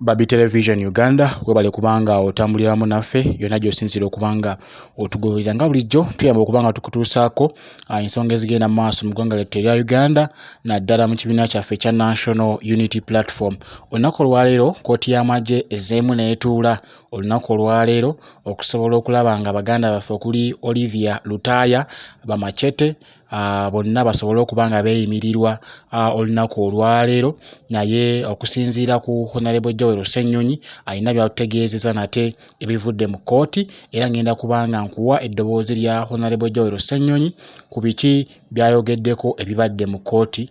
Babi Television Uganda webale kubanga otambuliramu naffe yonna gy'osinziira okubanga otugoberera nga bulijjo tuyamba okubanga tukutuusaako ah, ensonga ezigenda mu maaso mu ggwanga lyattu erya Uganda naddala mu kibiina kyaffe ekya National Unity Platform. Olunaku olwaleero kkooti y'amagye ezzeemu n'etuula olunaku olwaleero okusobola okulaba nga baganda baffe okuli Olivia Lutaaya, Bamachete ah, bonna basobole okuba nga beeyimirirwa ah, olunaku olwaleero naye okusinziira ku honalebo joel ssennyonyi alina byatutegeezeza nate ebivudde mu kkooti era ngenda kuba nga nkuwa eddoboozi lya honalebo joel ssennyonyi ku biki byayogeddeko ebibadde mu kkooti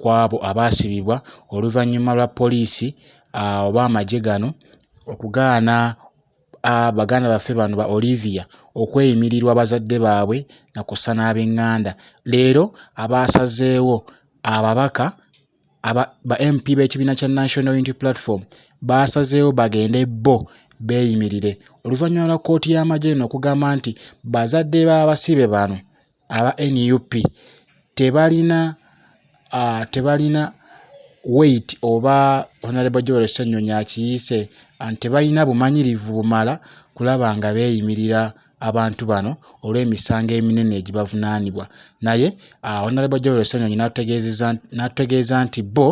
kw'abo abaasibibwa oluvannyuma lwa poliisi oba amagye gano okugaana baganda baffe bano ba Olivia okweyimirirwa bazadde baabwe na kussa n'abenganda leero abaasazeewo ababaka ba MP b'ekibiina kya National Unity Platform baasazeewo bagende bo beeyimirire oluvannyuma lwa kkooti y'amagye eno okugamba nti bazadde b'abasibe bano aba nup tebalina aah tebalina weight oba Honourable Joel Ssenyonyi akiyiise nti tebalina bumanyirivu bumala kulaba nga beeyimirira abantu bano olw'emisango eminene egibavunaanibwa naye aah Honourable Joel Ssenyonyi n'atutegeezezza n'atutegeeza nti bbo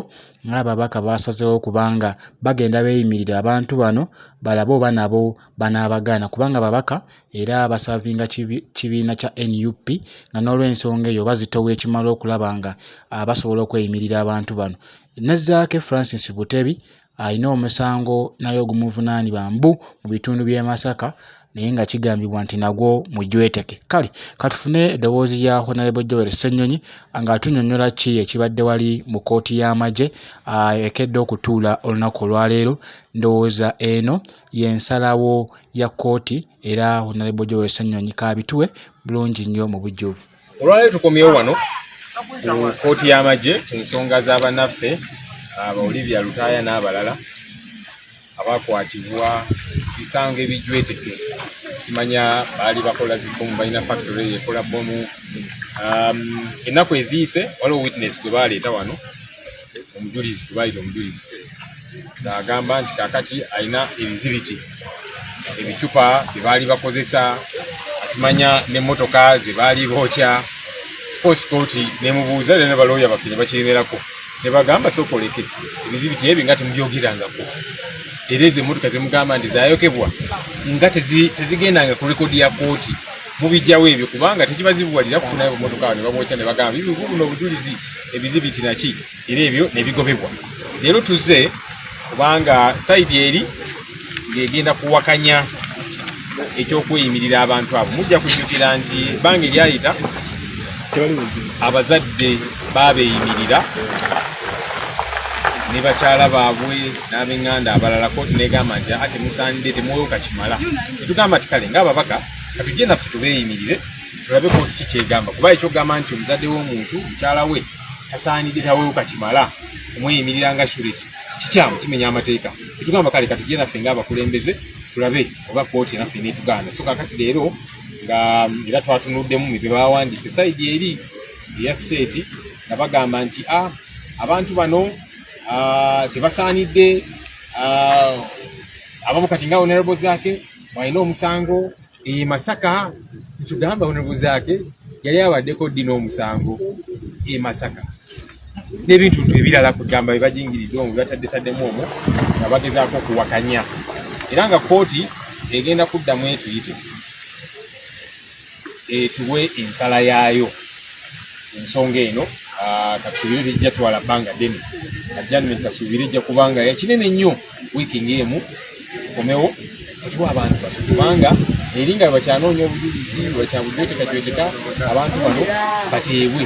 ng'ababaka baasazeewo kubanga bagenda beeyimirire abantu bano balabe oba nabo banaabagaana kubanga babaka era basaavinga kibiina kya nup nga n'olwensonga eyo bazitowa ekimala okulaba nga ah, basobola okweyimirira abantu bano ne zaake francis butebi alina omusango naye ogumuvunaanibwa mbu mu bitundu by'e masaka naye nga kigambibwa nti nagwo mujweteke kale katufune eddoboozi lya honalebo joel ssenyonyi nga atunyonyola ki ekibadde wali mu kooti y'amagye ah, ekedde okutuula olunaku olwaleero ndowooza eno y'ensalawo ya kkooti era Honorable Joel Ssenyonyi kaabituwe bulungi nnyo mu bujjuvu. Olwaleero tukomyewo wano ku kkooti y'amagye ku nsonga za banaffe aba Olivia Lutaaya n'abalala abakwatibwa bisango ebijweteke simanya baali bakola zibbomu balina factory ekola bbomu um, ennaku eziyise waliwo witness gwe baleeta wano omujulizi gwebayita omujulizi ng'agamba nti kakati alina ebizibiti ebicupa bye baali bakozesa asimanya n'emmotoka ze baali bookya course koti nemubuuza era ne balooya baffe ne bakiremerako ne bagamba sokoleke ebizibiti ebyo nga temubyogerangako era ezo emmotoka zemugamba nti zayokebwa nga tezigendanga ku rekodi ya kooti mubijjawo ebyo kubanga tekibazibuwalira kufunayo bumotoka ne babwokya ne bagamba bibuno obujulizi ebizibitira ki era ebyo nebigobebwa leero tuze kubanga saidi eri ng'egenda kuwakanya ekyokuyimirira abantu abo mujja kujjukira nti ebbanga eryayita abazadde babeeyimirira ne bakyala baabwe n'abenganda abalala kooti negamba nti aa temusaanidde temwoyoka kimala tetugamba ti kale ngaababaka katujje naffe tubeeyimirire tulabe kooti ki kyegamba kuba ekyogamba nti omuzadde w'omuntu mukyala we tasaanidde tawewo kakimala omweyimirira nga sureti kikyamu kimenya amateeka etugamba kale katugye naffe ngaabakulembeze tulabe oba kooti naffe netuganda so kakati leero nga era twatunuddemu mibye bawandiise saidi eri eya state nga bagamba nti a ah, abantu bano ah, tebasaanidde ah, abamu kati nga onerable zaake mwalina omusango e masaka kitugamba onebuzaake yali abaddeko ddi n'omusango e masaka n'ebintu ntu ebirala kugamba bebajingiridde omu bataddetaddemu omu nga bagezaako okuwakanya era nga kooti egenda kuddamu etuyite etuwe ensala yaayo ensonga eno ah, katusuubire tejja twala bbanga ddene ajjanment kasuubire ejja kubanga yakinene nnyo wiiki ng'emu tukomewo otuwa abantu baffe kubanga eri nga bakyanoonya obujulizi bakyabujwetekajweteka abantu bano bateebwe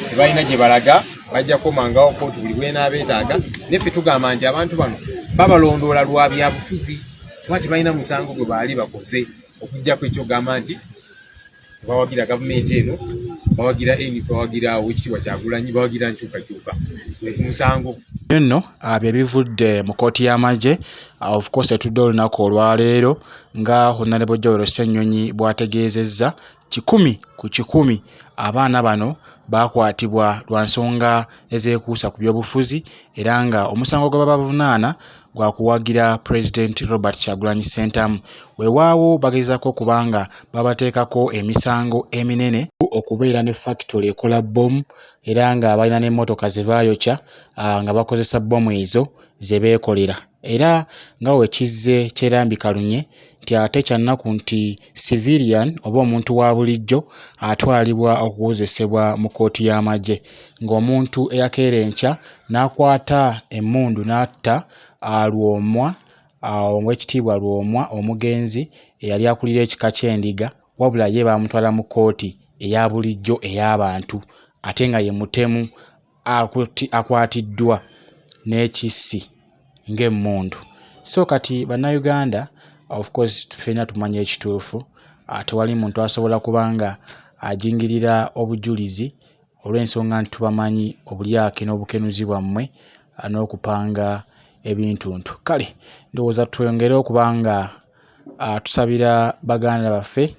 tebalina gye balaga bajja kukomangawo kootu buli bwenaabeetaaga naye ffe tugamba nti abantu bano babalondoola lwa byabufuzi kuba tebalina musango gwe baali bakoze okujjako ekyogamba nti bawagira gavumenti eno bawagira eni bawagira owekitiibwa kyagulanyi bawagira nkyukakyuka musango nno ah, bye bivudde mu kooti y'amagye ah, of course etudde olunaku olwaleero nga honalebo jowero ssennyonyi bw'ategeezezza kikumi ku kikumi abaana bano baakwatibwa lwa nsonga ezeekuusa ku byobufuzi era nga omusango gwe babavunaana gwa kuwagira pulezidenti Robert Kyagulanyi Ssentamu. Wewaawo bagezaako okuba nga babateekako emisango eminene okubeera ne fakitole ekola bbomu era nga balina n'emmotoka ze baayokya ah, nga bakozesa bbomu ezo ze beekolera era nga we kizze kyerambika lunye nti ate kya nnaku nti civilian oba omuntu wa bulijjo atwalibwa okuwozesebwa mu kkooti y'amagye ng'omuntu eyakeera enkya n'akwata emmundu n'atta Lwomwa Oweekitiibwa Lwomwa omugenzi eyali akulira ekika ky'Endiga wabula ye baamutwala mu kkooti eya bulijjo ey'abantu ate nga ye mutemu akwatiddwa n'ekissi ng'emmundu. So kati Bannayuganda of course ffena tumanya ekituufu, ah, tewali muntu asobola kuba nga ajingirira obujulizi olw'ensonga nti tubamanyi obulyake n'obukenuzi bwammwe ah, n'okupanga ebintuntu. Kale ndowooza twongere okuba nga Tusabira baganda baffe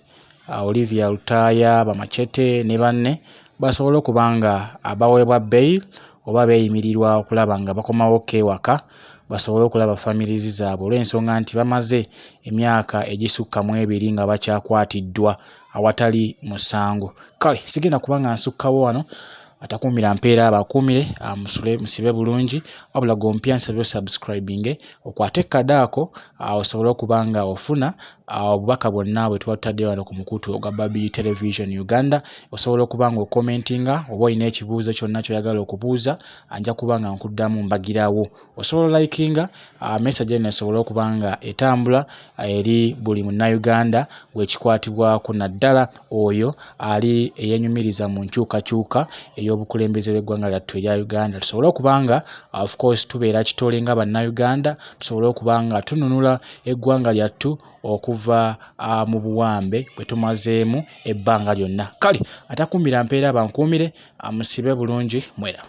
Olivia Lutaaya, Bamachete ne banne basobole okuba nga baweebwa bail oba beeyimirirwa okulaba nga bakomawokko ewaka basobole okulaba families zaabwe olw'ensonga nti bamaze emyaka egisukka mu ebiri nga bakyakwatiddwa awatali musango. Kale sigenda kuba nga nsukkawo wano. atakuumira mpeera abakuumire amusule musibe bulungi wabula gompya nsabye osubscribinge okwate kada ako osobole okuba nga ofuna obubaka bwonna bwe tuba tutadde wano ku mukutu ogwa babi television uganda osobola okuba nga okomentinga oba olina ekibuuzo kyonna kyoyagala okubuuza anja kuba nga nkuddamu mbagirawo osobola olayikinga uh, message eno esobole okuba nga etambula uh, eri buli munnayuganda wekikwatibwako naddala oyo ali eyenyumiriza mu nkyukakyuka ey'obukulembeze bw'eggwanga lyattu erya uganda tusobole okuba nga uh, of course tubeera kitole nga bannayuganda tusobole okuba nga tununula eggwanga lyattu okuva mu buwambe bwe tumazeemu ebbanga lyonna kale atakuumira mpeera bankuumire amusibe bulungi mweraba.